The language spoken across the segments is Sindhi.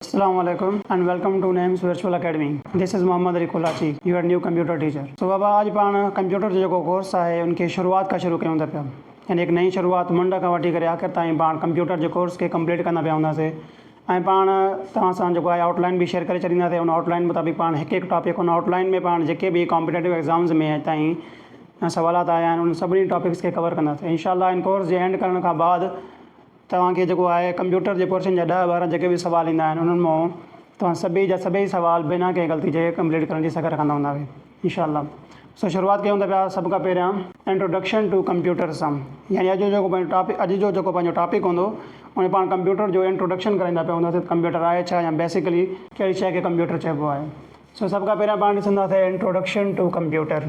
اسلام عليڪم and welcome to Nims virtual academy this is Muhammad Ali Kolachi your new computer teacher سو بابا اڄ پاڻ ڪمپيوٽر جو جيڪو ڪورس آهي ان کي شروعات کان شروع ڪيون ٿا پيا يعني هڪ نئين شروعات منڊ کان وٺي ڪري آخر تائين پاڻ ڪمپيوٽر جي ڪورس کي ڪمپليٽ ڪندا پيا هوندا سي ۽ پاڻ توهان سان جيڪو آهي آئوٽ لائن به شيئر ڪري ڇڏيندا سي ان آئوٽ لائن مطابق پاڻ هڪ هڪ ٽاپڪ ان آئوٽ لائن ۾ پاڻ جيڪي به ڪامپيٽيٽو ايگزامز ۾ اڄ تائين سوالات آيا آهن ان سڀني ٽاپڪس کي ڪور ڪندا سي انشاء الله ان ڪورس جي اينڊ ڪرڻ کان بعد توهان کي جيڪو آهي ڪمپيوٽر جي ڪورسن جا ڏهه ٻارهن جيڪي به سوال ايندا آهن انهن مئون توهان سڀئي جا سڀئي سوال بنا ڪنهن غلطي جي ڪمپليٽ ڪرڻ جي سگهه رکندا هوندا وي انشاء الله سو شروعات ڪيون ٿا پيا سڀ کان پهريان انٽروڊڪشن ٽو ڪمپيوٽر سان يعني اڄ جو جيڪو پنهنجو ٽاپڪ اڄ جو جيڪو پنهنجو ٽاپڪ هوندو ان ۾ پاڻ ڪمپيوٽر جو انٽروڊڪشن ڪرائيندا پيا هونداسين ڪمپيوٽر آهي ڇا يا بيسڪلي ڪهڙي شيء کي ڪمپيوٽر چئبو آهي سو سڀ کان پهريان پاڻ ڏسنداسين introduction to computer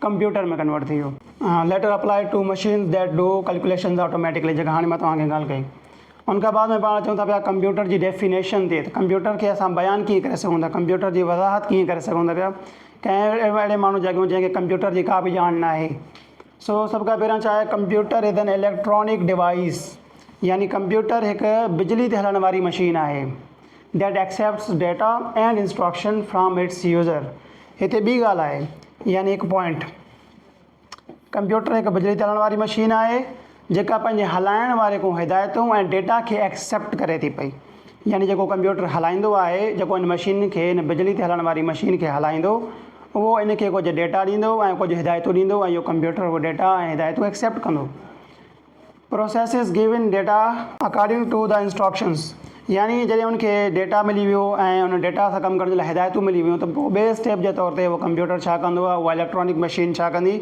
computer ۾ convert ٿي ويو. Later applied to machines that do calculations automatically جيڪا هاڻي مان توهان کي ڳالهه ڪئي ان کان بعد ۾ پاڻ اچون ٿا پيا ڪمپيوٽر جي ڊيفينيشن تي ته ڪمپيوٽر کي اسان بيان ڪيئن ڪري سگهون ٿا ڪمپيوٽر جي وضاحت ڪيئن ڪري سگهون ٿا پيا ڪنهن اهڙي ماڻهو جاڳيون جنهن کي ڪمپيوٽر جي ڪا به ڄاڻ نه آهي سو سڀ کان پهريان ڇا آهي computer is an electronic device يعني ڪمپيوٽر هڪ بجلي تي هلڻ واري مشين آهي That accepts data and instruction from its user هتي ٻي ڳالهه آهي يعني هڪ پوائنٽ. ڪمپيوٽر هڪ بجلي تي هلڻ واري مشين آهي جيڪا پنهنجي هلائڻ واري کان هدايتون ۽ ڊيٽا کي ايڪسيپٽ ڪري ٿي پئي يعني جيڪو ڪمپيوٽر هلائيندو آهي جيڪو ان مشين کي ان بجلي تي هلڻ واري مشين کي هلائيندو اهو ان کي ڪجهه ڊيٽا ڏيندو ۽ ڪجهه هدايتون ڏيندو ۽ اهو ڪمپيوٽر اهو ڊيٽا ۽ هدايتون ايڪسيپٽ ڪندو. Processes given data according to the instructions يعني جڏهن ان کي ڊيٽا ملي ويو ۽ ان ڊيٽا سان ڪم ڪرڻ جي لاء هدايتون ملي ويون ته پوء ٻئي اسٽيپ جي طور تي اهو ڪمپيوٽر ڇا ڪندو يا اها اليڪٽرانڪ مشين ڇا ڪندي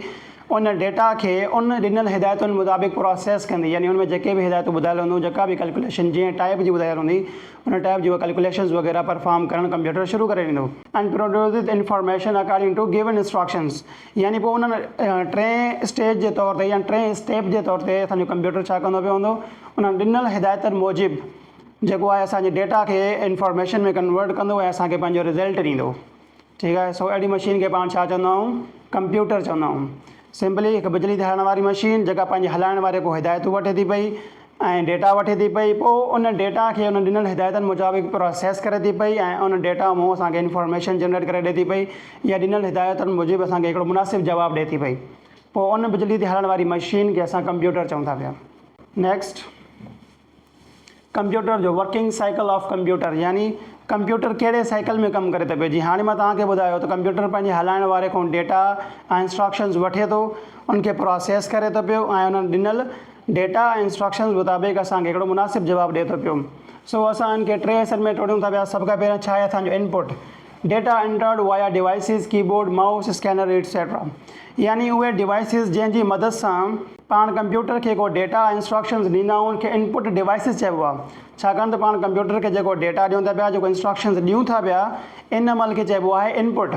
ان ڊيٽا کي ان ڏنل هدايتن مطابق پراسيس ڪندي يعني ان ۾ جيڪي به هدايتون ٻڌايل هونديون جيڪا به ڪلڪيوليشن جنهن ٽائيپ جي ٻڌايل هوندي ان ٽائيپ جي اهي ڪلڪيوليشنز وغيره پرفارم ڪرڻ ڪمپيوٽر شروع ڪري ڏيندو. and produces information according to given instructions يعني پوء انهن ٽئين اسٽيج جي طور تي يعني ٽئين اسٽيپ جي طور تي اسان جو ڪمپيوٽر ڇا ڪندو پيو هوندو انهن ڏنل هدايتن موجب جيڪو آهي اسان جي ڊيٽا کي انفارميشن ۾ ڪنورٽ ڪندو ۽ اسان کي پنهنجو رزلٽ ڏيندو ٺيڪ آهي سو اهڙي مشين کي پاڻ ڇا چوندا آهيون ڪمپيوٽر چوندا آهيون سمپلي هڪ بجلي ڌارڻ واري مشين جيڪا پنهنجي هلائڻ واري کان هدايتون وٺي ٿي پئي ۽ ڊيٽا وٺي ٿي پئي پوء ان ڊيٽا کي ان ڏنل هدايتن مطابق پراسيس ڪري ٿي پئي ۽ ان ڊيٽا مون اسان کي انفارميشن جنريٽ ڪري ڏئي ٿي پئي يا ڏنل هدايتن موجب اسان کي هڪڙو مناسب جواب ڏئي ٿي پئي پوء ان بجلي تي هلڻ واري مشين کي اسان ڪمپيوٽر چئون ٿا پيا نيڪسٽ ڪمپيوٽر جو ورڪنگ سائيڪل آف ڪمپيوٽر يعني ڪمپيوٽر ڪهڙي سائيڪل ۾ ڪم ڪري ٿو پئي جي هاڻي مان توهان کي ٻڌايو ته ڪمپيوٽر پنهنجي هلائڻ واري کان ڊيٽا ۽ انسٽراڪشنز وٺي ٿو ان کي پراسيس ڪري ٿو پيو ۽ انهن ڏنل ڊيٽا ۽ انسٽرڪشنز مطابق اسان کي هڪڙو مناسب جواب ڏئي ٿو پيو سو اسان ان کي ٽي حصن ۾ ٽوڙيون ٿا پيا سڀ کان پهريان ڇا آهي اسان جو input data entered via devices keyboard mouse scanner etcetera يعني اهي ڊيوائسز جنهن جي مدد سان پاڻ ڪمپيوٽر کي ڪو ڊيٽا ۽ انسٽرڪشنز ڏيندا آهيون ان کي انپٽ ڊيوائسز چئبو آهي ڇاڪاڻ ته پاڻ ڪمپيوٽر کي جيڪو ڊيٽا ڏيون ٿا پيا جيڪو انسٽرڪشنز ڏيون ٿا پيا ان عمل کي چئبو آهي انپٽ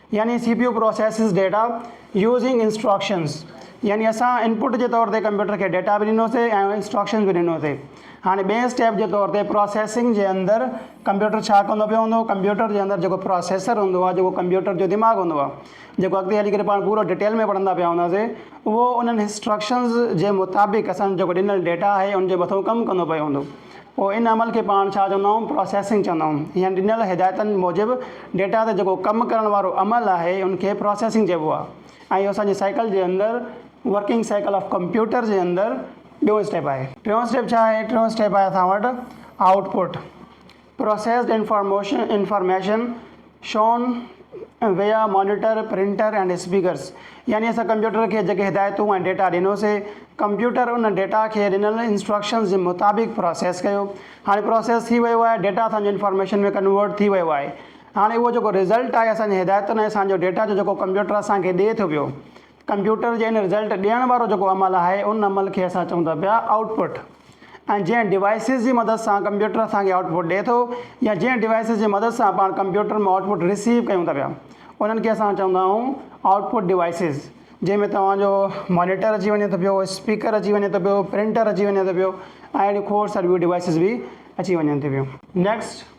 يعني C P U processes data using instructions يعني اسان انپٽ جي طور تي ڪمپيوٽر کي ڊيٽا به ڏنو سي ۽ انسٽرڪشنز به ڏنو سي هاڻي ٻئي اسٽيپ جي طور تي پروسيسنگ جي اندر ڪمپيوٽر ڇا ڪندو پيو هوندو ڪمپيوٽر جي اندر جيڪو پروسيسر هوندو آهي جيڪو ڪمپيوٽر جو دماغ هوندو آهي جيڪو اڳتي هلي ڪري پاڻ پورو ڊيٽيل ۾ پڙهندا پيا هوندا سي اهو انهن انسٽرڪشنز جي مطابق اسان جيڪو ڏنل ڊيٽا آهي ان جي مٿو ڪم ڪندو پيو هوندو پوء ان عمل کي پاڻ ڇا چوندائون پراسيسنگ چوندائون يا ڏنل هدايتن موجب ڊيٽا تي جيڪو ڪم ڪرڻ وارو عمل آهي ان کي پراسيسنگ چئبو آهي ۽ اهو اسان جي سائيڪل جي اندر ورڪنگ سائيڪل آف ڪمپيوٽر جي اندر ٻيون اسٽيپ آهي. ٽيون اسٽيپ ڇا آهي؟ ٽيون اسٽيپ آهي اسان وٽ output processed information information. Shown via monitor, printer ۽ speakers يعني اسان ڪمپيوٽر کي جيڪي هدايتون ۽ ڊيٽا ڏنوسي، ڪمپيوٽر ان ڊيٽا کي ڏنل انسٽرڪشنز جي مطابق پراسيس ڪيو. هاڻي پراسيس ٿي ويو آهي، ڊيٽا اسان جو انفارميشن ۾ ڪنورٽ ٿي ويو آهي. هاڻي اهو جيڪو رزلٽ آهي اسان جي هدايتن ۽ اسان جو ڊيٽا جو جيڪو ڪمپيوٽر اسان کي ڏئي ٿو پيو، ڪمپيوٽر جي ان رزلٽ ڏيڻ وارو جيڪو عمل آهي ان عمل کي اسان چئون ٿا پيا آئوٽ پٽ ۽ جنهن ڊوائسز جي مدد سان ڪمپيوٽر اسان کي آئوٽ پٽ ڏئي ٿو يا جنهن ڊوائسز جي مدد سان پاڻ ڪمپيوٽر مان آئوٽ پٽ رسيو ڪيون ٿا پيا انهن کي اسان چوندا آهيون آئوٽ پٽ ڊوائسز جنهن ۾ توهان جو مانيٽر اچي وڃي ٿو پيو اسپيڪر اچي وڃي ٿو پيو پرنٽر اچي وڃي ٿو پيو ۽ اهڙيون کوڙ ساريون ڊوائسز به اچي وڃن ٿي پيون نيڪسٽ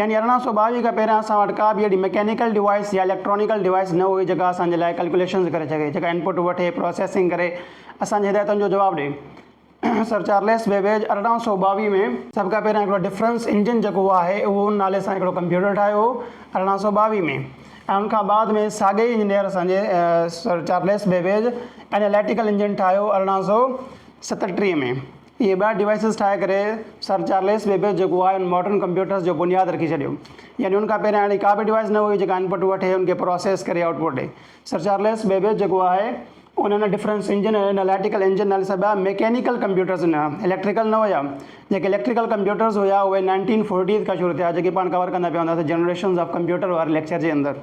يعني ارڙهن سؤ ٻاويهه کان پهريان اسان وٽ ڪا به اهڙي مڪينيڪل ڊوائيس يا اليڪٽرانيڪل ڊوائيس نه هئي جيڪا اسان جي لاء ڪلڪيوليشنز ڪري سگهي جيڪا انپٽ وٺي پروسيسنگ ڪري اسان جي هدايتن جو جواب ڏئي سر چارليس بيبيج ارڙهن سؤ ٻاويهه ۾ سڀ کان پهريان هڪڙو ڊفرنس انجن جيڪو آهي اهو ان نالي سان هڪڙو ڪمپيوٽر ٺاهيو هو ارڙهن سؤ ٻاويهه ۾ ۽ ان کان بعد ۾ ساڳئي انجنيئر اسان جي sir Charles Babbage analytical engine ٺاهيو ارڙهن سؤ ستٽيهه ۾ اهي ٻه ڊوائسز ٺاهي ڪري سر چارليس بيبيج جيڪو آهي ان ماڊرن ڪمپيوٽرز جو بنياد رکي ڇڏيو. يعني ان کان پهريان اهڙي ڪا به ڊوائس نه هئي جيڪا انپٽ وٺي ان کي پراسيس ڪري آئوٽ پٽ ڏئي. سر چارليس بيبيج جيڪو آهي ان هن ڊفرنس انجن ۽ اناليٽيڪل انجن نالي سڀيا ميڪينيڪل ڪمپيوٽرز ڏنا. اليڪٽريڪل نه هيا. جيڪي اليڪٽريڪل ڪمپيوٽرز هيا اهي نائنٽين فورٽيز کان شروع ٿيا جيڪي پاڻ ڪور ڪندا پيا هونداسين جنريشنز آف ڪمپيوٽر واري ليڪچر جي اندر.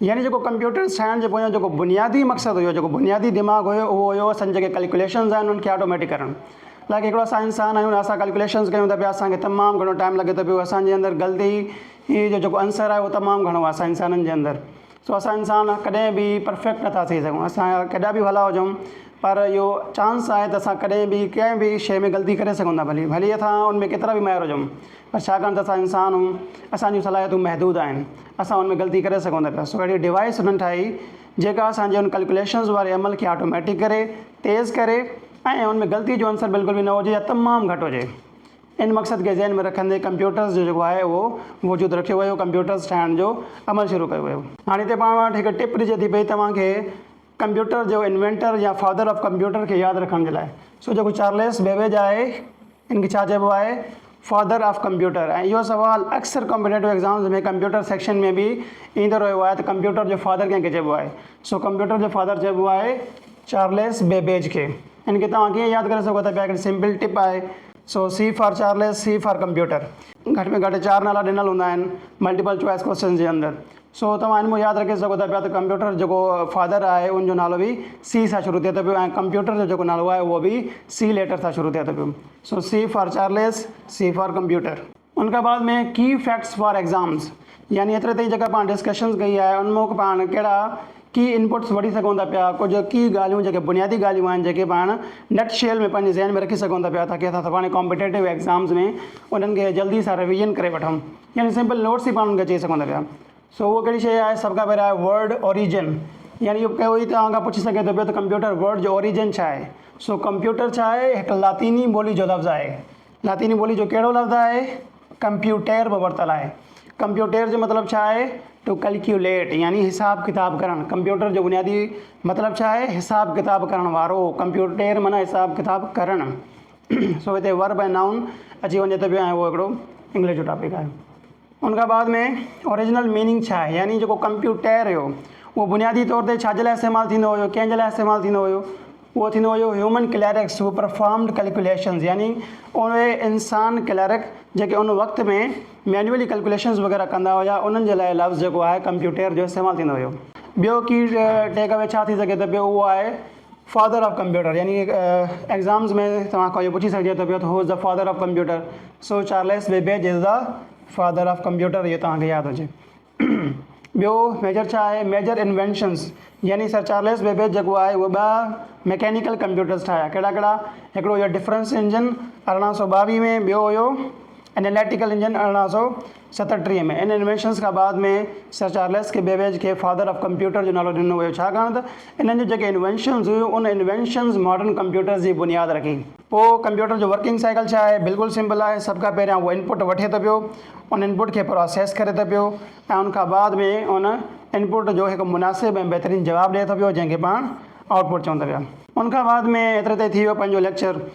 يعني جيڪو ڪمپيوٽر سائنس جي پويان جيڪو بنيادي مقصد هيو، جيڪو بنيادي دماغ هيو اهو هيو اسان جيڪي ڪلڪوليشنز آهن انهن کي آٽوميٽڪ ڪرڻ لائق هڪڙو اسان انسان آهيون اسان ڪلڪوليشنز ڪيون ٿا پيا اسان کي تمام گهڻو ٽائيم لڳي ٿو پيو اسان جي اندر غلطي هي جو جيڪو عنصر آهي اهو تمام گهڻو آهي اسان انسانن جي اندر سو اسان انسان ڪڏهن به پرفيڪٽ نٿا ٿي سگهون اسان جا ڪيڏا به ڀلا هجون پر اهو چانس آهي ته اسان ڪڏهن به ڪنهن به شيء ۾ غلطي ڪري سگهون ٿا ڀلي ڀلي اسان ان ۾ ڪيترا به ماهر هجون ڇاڪاڻ ته اسان انسان اهيون اسان جون صلاحيتون محدود آهن اسان ان ۾ غلطي ڪري سگهون ٿا پيا سو اهڙي ڊوائيس انهن ٺاهي جيڪا اسان جي ان ڪلڪوليشنز واري عمل کي آٽوميٽڪ ڪري تيز ڪري ۽ ان ۾ غلطي جو عنصر بلڪل به نه هجي يا تمام گهٽ هجي ان مقصد کي ذهن ۾ رکندي ڪمپيوٽرز جو جيڪو آهي اهو وجود رکيو ويو ڪمپيوٽرز ٺاهڻ جو عمل شروع ڪيو ويو هاڻي هتي پاڻ وٽ هڪ ٽپ ڏجي ٿي پئي توهان کي ڪمپيوٽر جو انوينٽر يا فادر آف ڪمپيوٽر کي ياد رکڻ جي لاء سو جيڪو چارليس بيبيج آهي ان کي ڇا چئبو آهي فادر آف ڪمپيوٽر ۽ اهو سوال اڪثر ڪمپيٽيٽو ايگزامز ۾ ڪمپيوٽر سيڪشن ۾ به ايندو رهيو آهي ته ڪمپيوٽر جو فادر ڪنهن کي چئبو آهي سو ڪمپيوٽر جو فادر چئبو آهي چارليس بيبيج کي ان کي توهان ڪيئن ياد ڪري سگهو ٿا پيا هڪڙي سمپل ٽپ آهي سو C for Charles C for computer گهٽ ۾ گهٽ چار نالا ڏنل هوندا آهن ملٽيپل چوائس ڪويسچنز جي اندر سو توهان هن مون ياد رکي سگهو ٿا پيا ته ڪمپيوٽر جيڪو فادر آهي ان جو نالو به سي سان شروع ٿئي ٿو پيو ۽ ڪمپيوٽر جو جيڪو نالو آهي اهو به سي ليٽر سان شروع ٿئي ٿو پيو سو C for Charles C for computer. ان کان بعد ۾ ڪي فيڪٽس فار ايگزامز يعني ايتري تائين جيڪا پاڻ ڊسڪشنز ڪئي آهي ان مون پاڻ ڪهڙا ڪي انپٽس وٺي سگهون ٿا پيا ڪجهه ڪي ڳالهيون جيڪي بنيادي ڳالهيون آهن جيڪي پاڻ نٽ شيل ۾ پنهنجي ذهن ۾ رکي سگهون ٿا پيا تاڪي اسان سڀاڻي ڪامپيٽيٽو ايگزامز ۾ انهن کي جلدي سان رويزن ڪري وٺون. يعني سمپل نوٽس ئي پاڻ ان کي چئي سگهون ٿا پيا. سو اهو ڪهڙي شيء آهي؟ سڀ کان پهريان آهي ورڊ اوريجن. يعني اهو ڪوئي توهان کان پڇي سگهي ٿو پيو ته ڪمپيوٽر ورڊ جو اوريجن ڇا آهي؟ سو ڪمپيوٽر ڇا آهي؟ هڪ لاطيني ٻولي جو لفظ آهي. لاطيني ٻولي جو ڪهڙو لفظ آهي؟ ڪمپيوٽير مان ورتل آهي. ڪمپيوٽير جو مطلب ڇا آهي؟ ٽو ڪلڪيوليٽ يعني حساب ڪتاب ڪرڻ. ڪمپيوٽر جو بنيادي مطلب ڇا آهي؟ حساب ڪتاب ڪرڻ وارو. ڪمپيوٽير معنيٰ حساب ڪتاب ڪرڻ. سو هتي ورب ۽ نائون اچي وڃي ٿو پيو ۽ اهو هڪڙو انگلش جو ٽاپڪ آهي ان کان بعد ۾ اوريجنل ميننگ ڇا آهي يعني جيڪو ڪمپيوٽير هيو اهو بنيادي طور تي ڇا جي لاء استعمال ٿيندو هيو ڪنهن جي لاء استعمال ٿيندو هيو اهو ٿيندو هيو human clerks who performed calculations يعني اهي انسان ڪليرڪ جيڪي ان وقت ۾ مينوئلي ڪلڪوليشنز وغيره ڪندا هيا انهن جي لاء لفظ جيڪو آهي ڪمپيوٽير جو استعمال ٿيندو هيو ٻيو ڪي ٽيڪ اوي ڇا ٿي سگهي ٿو پيو اهو آهي فادر آف ڪمپيوٽر يعني ايگزامز ۾ توهان کان اهو پڇي سگهجي ٿو پيو ته who is the father of computer so Charles Babbage is the father of computer اهو توهان کي ياد هجي ٻيو ميجر ڇا آهي ميجر انوينشنز يعني سر چارلس بيبيج جيڪو آهي هو ٻه ميڪينيڪل ڪمپيوٽرز ٺاهيا ڪهڙا ڪهڙا هڪڙو هو ڊفرنس انجن ارڙهن سو ٻاويهه ۾ ٻيو هو انيليٽيڪل انجن ارڙهن سو ستٽيهه ۾ ان انوينشنز کان بعد ۾ سر چارلس ڪي بيبيج کي فادر آف ڪمپيوٽر جو نالو ڏنو ويو ڇاڪاڻ ته انهن جون جيڪي انوينشنز هيون ان انوينشنز ماڊرن ڪمپيوٽرز جي بنياد رکي. پوء ڪمپيوٽر جو ورڪنگ سائيڪل ڇا آهي؟ بلڪل سمپل آهي سڀ کان پهريان اهو انپٽ وٺي ٿو پيو ان انپٽ کي پراسيس ڪري ٿو پيو ۽ ان کان بعد ۾ ان انپٽ جو هڪ مناسب ۽ بهترين جواب ڏئي ٿو پيو جنهن کي پاڻ آئوٽ پٽ چون ٿا پيا. ان کان بعد ۾ ايتري تائين ٿي ويو پنهنجو ليڪچر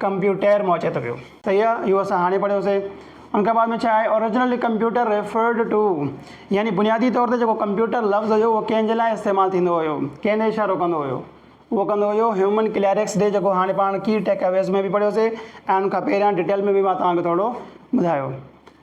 ڪمپيوٽر مان اچي ٿو پيو. صحيح آ اهو اسان هاڻي پڙهيو سي. ان کان بعد ۾ ڇا آهي Originally Computer Referred To يعني بنيادي طور تي جيڪو ڪمپيوٽر لفظ هيو اهو ڪنهن جي لاء استعمال ٿيندو هيو ڪنهن ڏي اشارو ڪندو هيو اهو ڪندو هيو هيومن ڪليرڪس ڏي جيڪو هاڻي پاڻ ڪي ٽيڪ اويز ۾ به پڙهيو سي ۽ ان کان پهريان ڊيٽيل ۾ به مان توهان کي ٿورڙو ٻڌايو.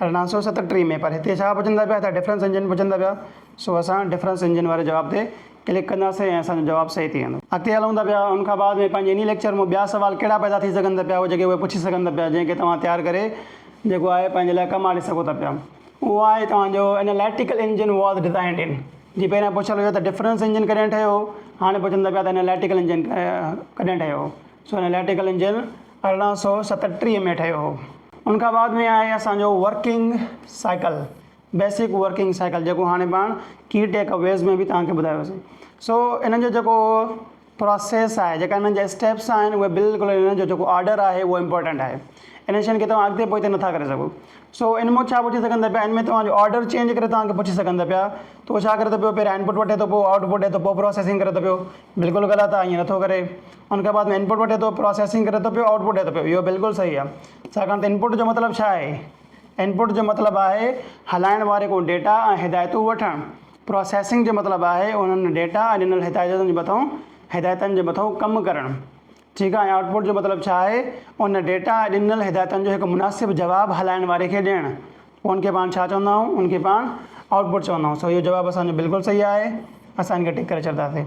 ارڙهن سؤ ستٽيهه ۾ پر هتي ڇا پڇندا پيا ته ڊفرنس انجن پڇندا پيا سو اسان ڊفرنس انجن واري جواب تي ڪلڪ ڪنداسين ۽ اسان جو جواب صحيح ٿي ويندو. اڳتي هلون ٿا پيا ان کان بعد ۾ پنهنجي انهي ليڪچر مون ٻيا سوال ڪهڙا پيدا ٿي سگهن ٿا پيا اهي جيڪي اهي پڇي سگهن ٿا پيا جنهن کي توهان تيار ڪري جيڪو آهي پنهنجي لاء ڪم آڻي سگهو ٿا پيا اهو آهي توهان جو اناليٽيڪل انجن واز ڊزائنڊ ان جي پهريان پڇيل هيو ته ڊفرنس انجن ڪڏهن ٺهيو هاڻي پڇن ٿا پيا ته اناليٽيڪل انجن ڪڏهن ٺهيو سو اناليٽيڪل انجن ارڙهن سؤ ستٽيهه ۾ ٺهيو هو ان کان بعد ۾ آهي اسان جو working cycle basic working cycle جيڪو هاڻي پاڻ ڪي ٽيڪ اويز ۾ به تهان کي ٻڌايو سي سو انهن جو جيڪو پروسيس آهي جيڪا انهن جا اسٽيپس آهن اهي بلڪل انهن جو جيڪو آرڊر آهي اهو امپورٽنٽ آهي انهن شين کي تهان اڳتي پوئتي نٿا ڪري سگهو سو ان مون ڇا پڇي سگهندا پيا ان ۾ تهان جو آرڊر چينج ڪري تهان کي پڇي سگهندا پيا تو ڇا ڪري ٿو پيو پهريان انپوٽ وٺي ٿو پوء آئوٽ پوٽ ڏي ٿو پوء پروسيسنگ ڪري ٿو پيو بلڪل غلط آهي ائين نٿو ڪري ان کان بعد ۾ انپٽ وٺي ٿو پراسيسنگ ڪري ٿو پيو آئوٽ پٽ ڏئي ٿو پيو اهو بلڪل صحيح آهي ڇاڪاڻ ته انپٽ جو مطلب ڇا آهي انپٽ جو مطلب آهي هلائڻ واري ڪو ڊيٽا ۽ هدايتون وٺڻ پراسيسنگ جو مطلب آهي انهن ڊيٽا ۽ ڏنل هدايتن جي مٿئون هدايتن جي مٿئون ڪم ڪرڻ ٺيڪ آهي ۽ آئوٽ پٽ جو مطلب ڇا آهي ان ڊيٽا ۽ ڏنل هدايتن جو هڪ مناسب جواب هلائڻ واري کي ڏيڻ پوء ان کي پاڻ ڇا چوندا آهيون؟ ان کي پاڻ آئوٽ پٽ چوندا آهيون. سو اهو جواب اسان جو بلڪل صحيح آهي. اسان ان کي ٽڪ ڪري ڇڏنداسين.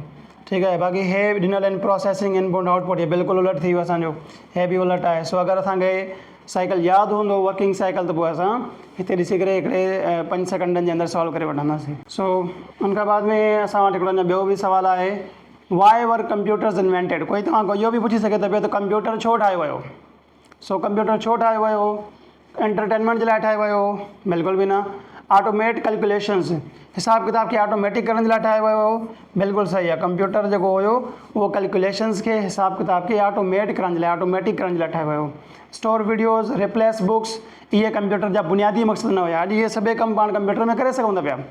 ٺيڪ آهي. باقي هي به ڏنل آهن پراسيسنگ ان پوئنٽ آئوٽ پٽ هي بلڪل الٽ ٿي ويو اسان جو. هي به الٽ آهي. سو اگر اسان کي سائيڪل ياد هوندو ورڪنگ سائيڪل ته پوء اسان هتي ڏسي ڪري هڪڙي پنج سيڪنڊن جي اندر سالو ڪري وٺنداسين. سو ان کان بعد ۾ اسان وٽ هڪڙو اڃا ٻيو به سوال آهي Why were computers invented؟ ڪوئي توهان کان اهو به پڇي سگهي ٿو پيو ته ڪمپيوٽر ڇو ٺاهيو ويو؟ سو ڪمپيوٽر ڇو ٺاهيو ويو هو؟ انٽرٽينمينٽ جي لاء ٺاهيو ويو هو؟ بلڪل به نه. آٽوميٽ ڪلڪيوليشنز، حساب ڪتاب کي آٽوميٽڪ ڪرڻ جي لاء ٺاهيو ويو هو؟ بلڪل صحيح آهي. ڪمپيوٽر جيڪو هيو اهو ڪلڪيوليشنز کي، حساب ڪتاب کي آٽوميٽ ڪرڻ جي لاء، آٽوميٽڪ ڪرڻ جي لاء ٺاهيو ويو هو. اسٽور وڊيوز، ريپليس بوڪس، اهي ڪمپيوٽر جا بنيادي مقصد نه هيا. اڄ اهي سڀئي ڪم پاڻ ڪمپيوٽر ۾ ڪري سگهون ٿا پيا.